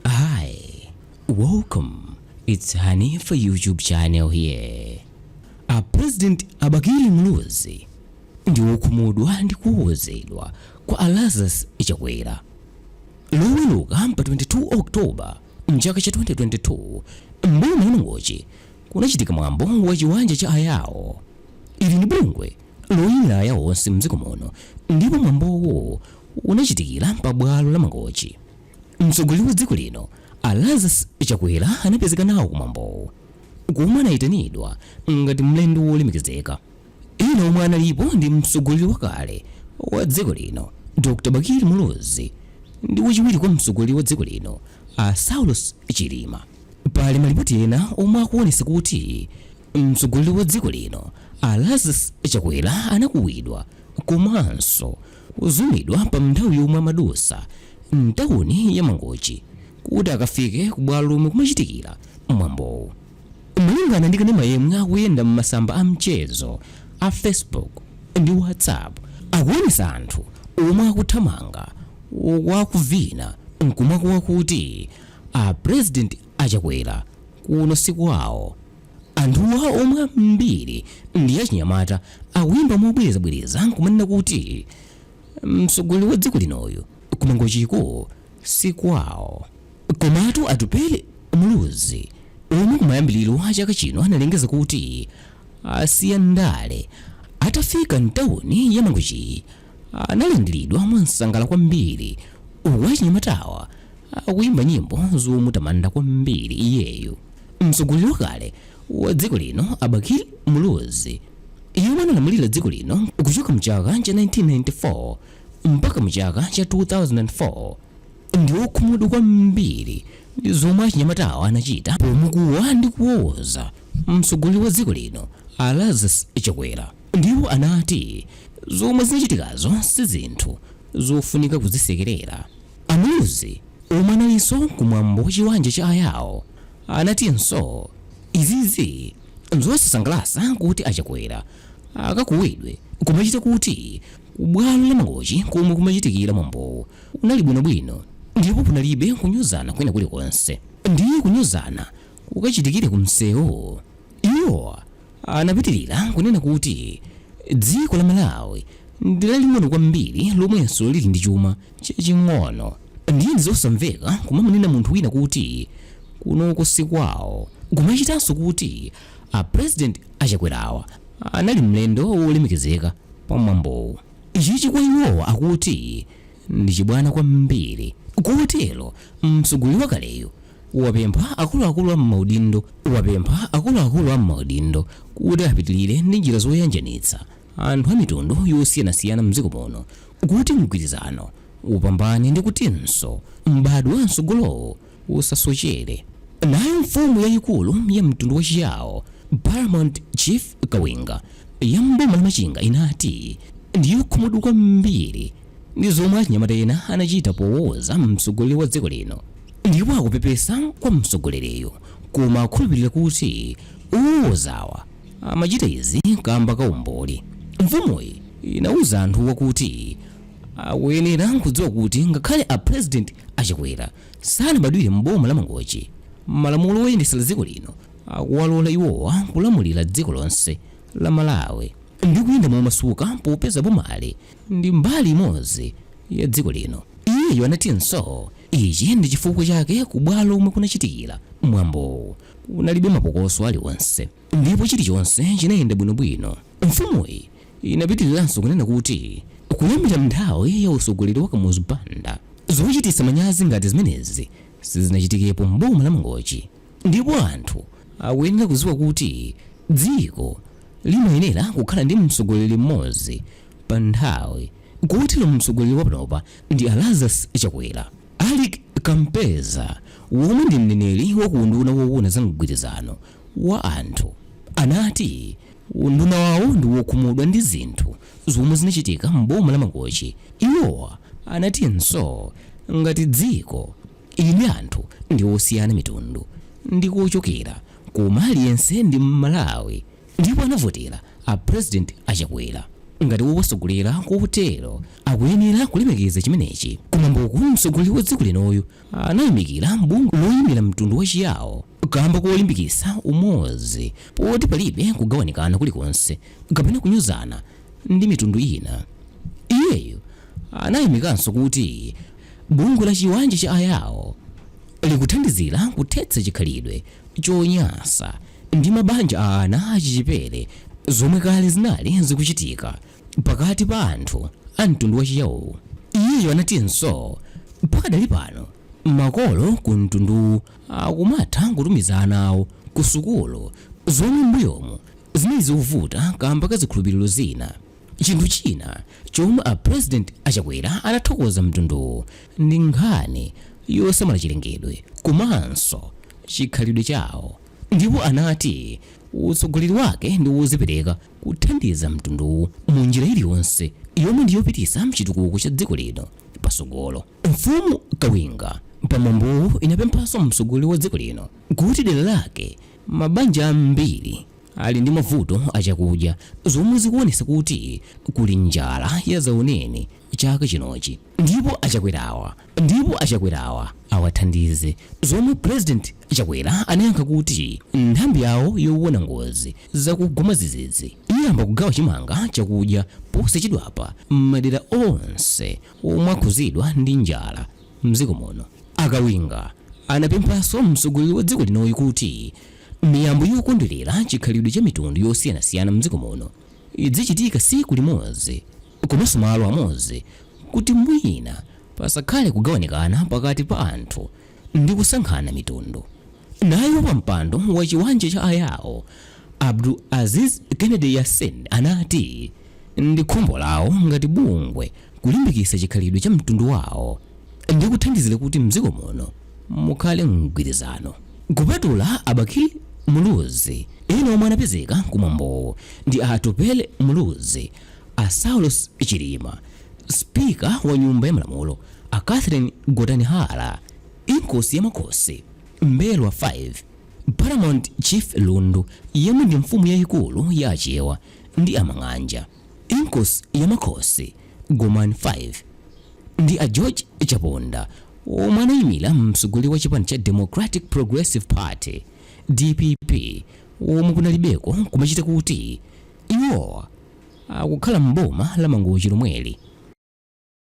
Hi, welcome. It's Hanifa YouTube channel here. A President a Bakili Muluzi ndi wokhumudwa ndi kuwowozedwa kwa a Lazarus Chakwera. Loweruka pa 22 October mchaka cha 2022 mboma la Mangochi kunachitika mwambo wa chiwanja cha ayawo. Ili ni bungwe loyimira ayawo onse mdziko muno ndipo mwambowo unachitikira pa bwalo la Mangochi. Mtsogoleri wa dziko lino a Lazarus Chakwera anapezeka nawo kumwambowu komwe anayitanidwa ngati mlendo wolemekezeka. Ena omwe analipo ndi mtsogoleri wakale wa dziko lino Dr Bakili Muluzi ndi wachiwiri kwa mtsogoleri wa dziko lino a Saulos Chilima. Pali malipoti ena omwe akuwonesa kuti mtsogoleri wa dziko lino a Lazarus Chakwera anakuwidwa komanso kuzumidwa pa nthawi yomwe amadusa mtauni ya Mangochi kuti akafike ku bwalo lomwe kumachitikira mwambowu. Malingana ndi kanema yemwe akuyenda m'masamba a mchezo a Facebook ndi WhatsApp akuonesa anthu omwe akuthamanga uku akuvina nkumakuwa kuti a President a Chakwera kuno sikwawo. Anthuwa omwe ambiri ndi achinyamata akuyimba mobwerezabwereza nkumanena kuti mtsogoleri wa dziko linoyu ku Mangochiko si kwawo. Komatu Atupele Muluzi omwe kumayambiliro a chaka chino analengeza kuti asiya ndale atafika mtawuni ya Mangochiyi, analandiridwa mwamsangala kwambiri uku achinyamatawa akuyimba nyimbo zomutamanda kwambiri iyeyu mtsogoleri wakale wa dziko lino a Bakili Muluzi yemwe analamulira dziko lino kuchoka mchaka cha 1994 mpaka mchaka cha 2004 ndi wokhumudwa kwambiri ndi zomwe achinyamatawa anachita pomukuwa ndi kuwowoza mtsogoleri wa dziko lino a Lazarus Chakwera Ndipo anati, Zomwe zinachitikazo si zinthu zofunika kuzisekerera. A Muluzi, omwe analinso ku mwambo wa chiwanja cha a Yao, anatinso, Izizi n'zosasangalatsa kuti a Chakwera akakuwidwe kumachita kuti ku bwalo la Mangochi komwe kumachitikira mwambowu kunali bwinobwino ndipo kunalibe kunyozana kwina kulikonse. Ndiye kunyozana kukachitikire ku msewu? Iwo Anapitilira kunena kuti dziko la Malawi ndi laling'ono kwambiri lomwenso lili ndi chuma chaching'ono ndiye ndizosamveka kumamunena munthu wina kuti kunoko sikwawo kumachitanso kuti a president a Chakwerawa anali mlendo wolemekezeka pa mwambowu. Ichichi kwa iwowa akuti ndi chibwana kwambiri kotero mtsogoleri wakaleyu wapempha akuluakulu a m'maudindo wapempha akuluakulu a m'maudindo kuti apitirire ndi njira zoyanjanitsa anthu a mitundu yosiyanasiyana mdziko muno kuti mgwirizano upambane ndi kutinso m'badwo wa mtsogolowo usasochere nayo mfumu yayikulu ya mtundu wachiyawo paramount chief kawinga ya mboma la machinga inati ndiyokhumudwa kwambiri ndi zomwe achinyamata ena anachita powowoza mtsogoleri wa dziko lino Ndipo akupepesa kwa mtsogoleriyu koma akukhulupilira kuti owowozawa amachita izi kamba ka umbuli. Mfumuyi inauza anthuwa kuti akuyenera kudziwa kuti ngakhale a President a Chakwera sanabadwire m'boma la Mangochi, malamulo oyendetsera dziko lino akuwalola iwowa kulamulira dziko lonse la Malawi ndi kuyenda momasuka popeza bomali ndi mbali imodzi ya dziko lino. Iyeyu anatinso. Ichi ndi chifukwa chake ku bwalo lomwe kunachitikira mwambowu kunalibe mapokoso aliwonse ndipo chilichonse chinayenda bwinobwino. Mfumuyi inapitiliranso kunena kuti kuyambira m'nthawi ya utsogoleri wa Kamuzu Banda, zochititsa manyazi ngati zimenezi sizinachitikepo m'boma la Mangochi ndipo anthu akuyenera kudziwa kuti dziko limayenera kukhala ndi mtsogoleri m'modzi pa nthawi kotero mtsogoleri wa panopa ndi a Lazarus Chakwera. Alick Kampeza womwe ndi mneneri wa ku unduna woona za mgwirizano wa anthu anati unduna wawo ndi wokhumudwa ndi zinthu zomwe zinachitika m'boma la Mangochi. Iwowa anatinso ngati dziko inde anthu ndi osiyana mitundu ndi kochokera koma aliyense ndi Mmalawi. Ndipo anavotera a president a Chakwera ngati wowatsogolera kotero akuyenera kulemekeza chimenechi ku mwamboku mtsogoleri wa dziko linoyu anayamikira bungwe loyimira mtundu wa chiyao kamba kolimbikitsa umodzi poti palibe kugawanikana kulikonse kapena kunyozana ndi mitundu ina. Iyeyu anayamikanso kuti bungwe la chiwanja cha a yao likuthandizira kuthetsa chikhalidwe chonyansa ndi mabanja a ana achichepere zomwe kale zinali zikuchitika pakati pa anthu a mtundu wa Chiyao. Iyeyo anatinso pakadali pano makolo ku mtunduwu akumatha kutumiza ana awo ku sukulu zomwe m'mbuyomu zinali zikuvuta kamba ka zikhulupiriro zina. Chinthu china chomwe a President a Chakwera anathokoza mtunduwu ndi nkhani yosamala chilengedwe komanso chikhalidwe chawo ndipo anati utsogoleri wake ndi wozipereka kuthandiza mtunduwu mu njira iliyonse yomwe ndi yopititsa chitukuko cha dziko lino pasogolo. Mfumu Kawinga pa mwambowu inapemphanso mtsogoleri wa dziko lino kuti dera lake mabanja ambiri ali ndi mavuto a chakudya zomwe zikuonesa kuti kuli njala yadzaoneni chaka chinochi ndipo achakwerawa ndipo achakwerawa awathandize zomwe president chakwera anayankha kuti nthambi yawo yowona ngozi zakugwa mwadzidzidzi iyamba kugawa chimanga chakudya posachedwapa m'madera onse omwe akhuzidwa ndi njala mdziko muno akawinga anapemphanso mtsogoleri wa dziko linoyi kuti Miyambo yokondwerera chikhalidwe cha mitundu yosiyanasiyana mdziko muno idzichitika siku limodzi komanso malo amodzi kuti mwina pasakhale kugawanikana pakati pa anthu ndi kusankhana mitundu. Naye wapampando wa chiwanja cha a Yao, Abdul Aziz Kennedy Yassin anati ndi khumbo lawo ngati bungwe kulimbikitsa chikhalidwe cha mtundu wawo ndi kuthandizira kuti mdziko muno mukhale mgwirizano. Kupatula a Bakili Muluzi, ena omwe anapezeka ku mwambowu ndi a Atupele Muluzi, a Saulos Chilima, Speaker wa nyumba ya malamulo a Catherine Gotani Hara, Inkosi ya Makhosi M'mbelwa 5, Paramount Chief Lundu yemwe ndi mfumu yayikulu ya Achewa ndi a Mang'anja. Inkosi ya Makhosi Gomani 5 ndi a George Chaponda omwe anayimira mtsogoleri wa chipani cha Democratic Progressive Party, dpp, omwe kunalibeko kumachita kuti iwowa akukhala m'boma la Mangochi lomweli.